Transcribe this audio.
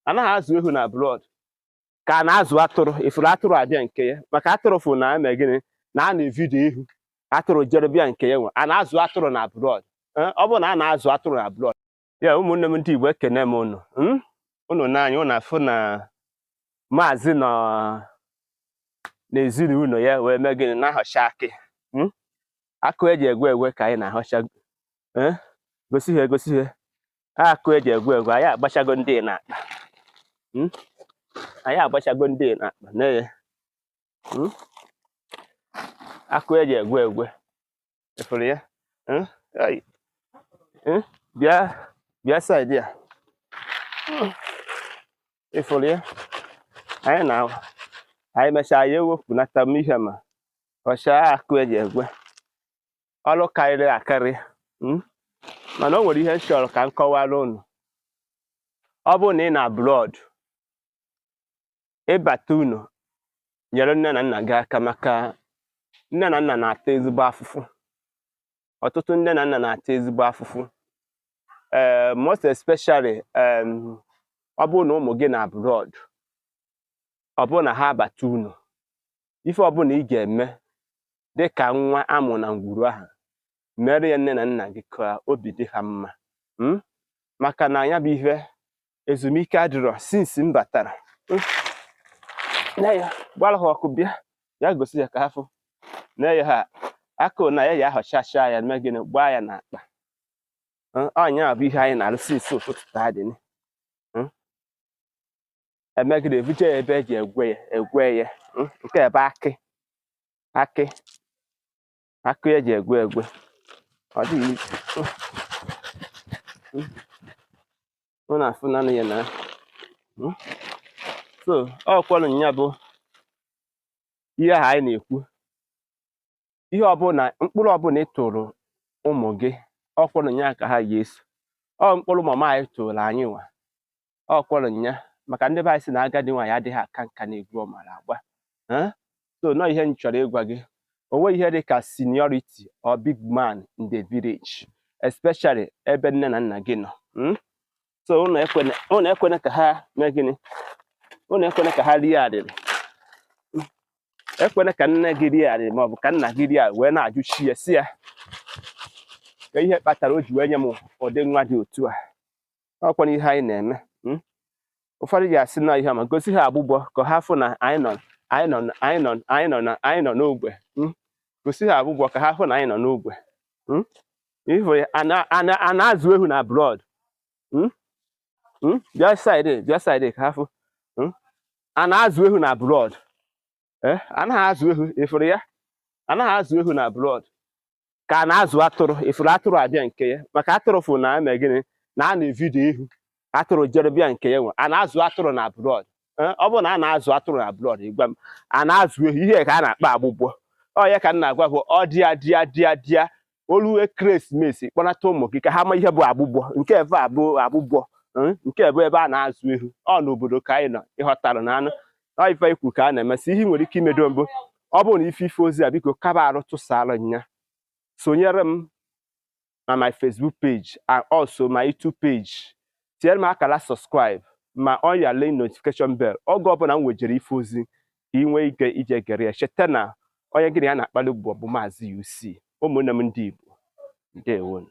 anaghị azụ ehu na abroad ka a na-azụ atụrụ ị fụrụ atụrụ abịa nke ya maka atụrụ fụ na e mee gịnị na a na-evidio ihu atụrụ jere bịa nke ya nwe a na-azụ atụrụ na abroad eh, ọ bụrụ na a na-azụ atụrụ na abroad ya ụmụnne m ndị Igbo ekene m unu hmm? unu nee anya unu afụ na maazị nọ n'ezinụlọ ya wee mee gịnị na-ahọcha akị hmm? akụ eji egwe egwe ka anyị na-ahọcha eh? gosi ha egosi ha akụ eji egwe egwe anyị agbachago ndị n'akpa Hmm? anyị agbachago ndị n'akpa na-eye Hmm? akụ eji egwe egwe ị fụrụ ya Hmm? Ai. Hmm? bịa bịa side a ị fụrụ ya anyị na anyị mechaa ya ewepụnata m ihe ma họchaa akụ eji egwe ọrụ karịrị akarị hmm? mana o nwere ihe m chọrọ ka m kọwara unu ọ bụrụ na ị nọ abroad ị bata ụnọ nyere nne na nna gị aka maka nne na nna na-ata ezigbo afụfụ ọtụtụ nne na nna na-ata ezigbo afụfụ ee eh, most especially ọ bụrụ na ụmụ gị nọ abroad ọ bụrụ na ha abata ụnọ ife ọbụla ị ga-eme dị ka nwa a mụ na ngwuru ahụ mere ya nne na nna gị ka obi dị ha mma hmm? maka na ya bụ ihe ezumike adịrọ since m batara hmm? na ya gbara ha ọkụ bịa ya gosi ya ka ha fụ na ya ha akụ na ya ya ahọchacha ya mee gịnị gbaa ya n'akpa ọ nya bụ ihe anyị na-arụ since ụtụtụ taa dị e megide e vuje ya ebe eji egwe ya egwe ya mm, nke ebe akị akị akị eji egwe egwe ọ dịghị mm, mm. na-afụ nanị ya na so ọ kwọrọ ya bụ ihe ahụ anyị na-ekwu ihe ọbụla mkpụrụ ọbụla ị tụrụ ụmụ gị ọ kwọrọ nya ka ha ya-eso ọ mkpụrụ mama anyị tụrụ anyị nwa ọ kwọrọ nya maka ndị be anyị sị na agadi nwaanyị adịghị aka nka n'egwu ọ mara agba Eh? so nọ ihe m chọrọ ịgwa gị o nweghị ihe dị ka seniority or big man in the village especially ebe nne na nna gị nọ mm? so unu ekwene unu ekwene ka ha mee gịnị unu ekwene ka ha rie arịrị ekwene ka nne gị rie arịrị ma ọ bụ ka nna gị rie arịrị wee na-ajụ chi ya sị ya ka ihe kpatara o ji wee nye m ụdị nwa dị otu a ọ kwanụ ihe anyị na-eme hmm? ụfọdụ ja-asị na ihe ma gosi ha agbụgbọ ka ha fụ na anyị nọ anyị nọ anyị nọ anyị nọ na anyị nọ n'ogbe hmm? gosi ha agbụgbọ ka ha fụ na anyị nọ n'ogbe hmm? ị fụ ya a na- a na- a na-azụ ehu na abroad Hmm? Hmm? bịa saịdị bịa saịdị ka a fụ Hmm? a na-azụ ehu na abroad Eh, anaghị azụ ehu ị fụrụ ya anaghị azụ ehu na abroad ka a na-azụ atụrụ ị fụrụ atụrụ abịa nke ya maka atụrụ fụ na-eme gịnị na a na-evidio ihu atụrụ jere bịa nke ya nwe a na-azụ atụrụ na abroad eh, ọ bụrụ na a na-azụ atụrụ na abroad ị gwa m a na-azụ ehu ihe ka a na-akpọ agbụgbọ ọ ya ka m na-agwa bụ ọ dịa dịa dịa dịa o lu ekeresimesi kpọnata ụmụ gị ka ha ma ihe bụ agbụgbọ nke ebe a bụ agbụgbọ eh, nke bụ ebe a na-azụ ehu ọ n'obodo ka anyị nọ ị ghọtara na anụ ọ ife ikwu ka a na-emesị ihe ị nwere ike imedo mbụ ọ bụrụ na ife ife ozi a biko kaba arụ tụsara nya sonyere m na my Facebook page and also my YouTube page tinyere m akara subscribe ma on your link notification bell oge ọbụla m wejere ife ozi ka ị nwee ike ije gere ya cheta na onye gị na ya na-akpali ụbụbọ bụ maazị UC ụmụnne m ndị Igbo ndewonu